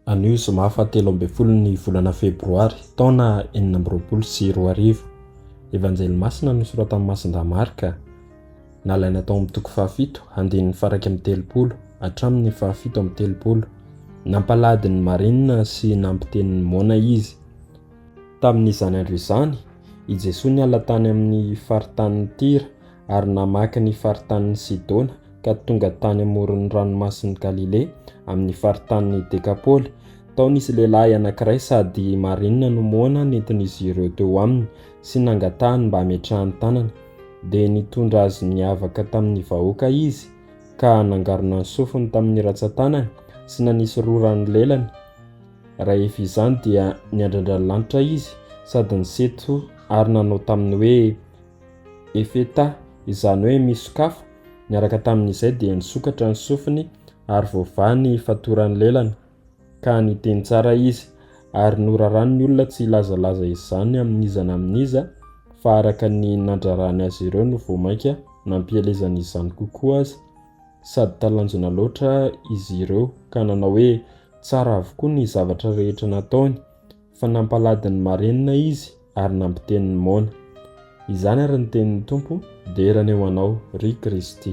Anio zoma faha telo ambin'ny folo ny volana febroary taona enina amby roapolo sy roa arivo. Evanjely masina nosoratan'i Masindahy Marka, nalaina tao amin'ny toko fahafito andininy faraika amin'ny telopolo hatramin'ny fahafito amin'ny telopolo. Nampalahady ny marina sy nampiteny ny moana izy. Tamin'izany andro izany, i Jesoa niala tany amin'ny faritanin'i Tyra ary namaky ny faritanin'i Sidona ka tonga tany amoron'ny ranomasin'i Galilea, amin'ny faritanin'i Dekapoly. Tao nisy lehilahy anankiray sady marina no moana nentin'izy ireo teo aminy sy nangatahany mba hametrahany tanana. Dia nitondra azy niavaka tamin'ny vahoaka izy ka nangarona ny sofiny tamin'ny ratsan-tanany sy nanisy rora ny lelany. Rahefa izany dia niandrandra ny lanitra izy sady niseto ary nanao taminy hoe, Efetà, izany hoe misokafo, niaraka tamin'izay dia nisokatra ny sofiny ary voavaha ny fatoran'ny lelany, ka niteny tsara izy, ary noraran'ny olona tsy hilazalaza izany amin'iza na amin'iza, fa araka ny nandrarany azy ireo no vao mainka nampielezany izany kokoa aza, sady talanjona loatra izy ireo ka nanao hoe, Tsara avokoa ny zavatra rehetra nataony, Fa nampalady ny marenina izy ary nampiteny ny moana. Izany ary ny tenin'ny Tompo dera ny eo anao, ry Kristy.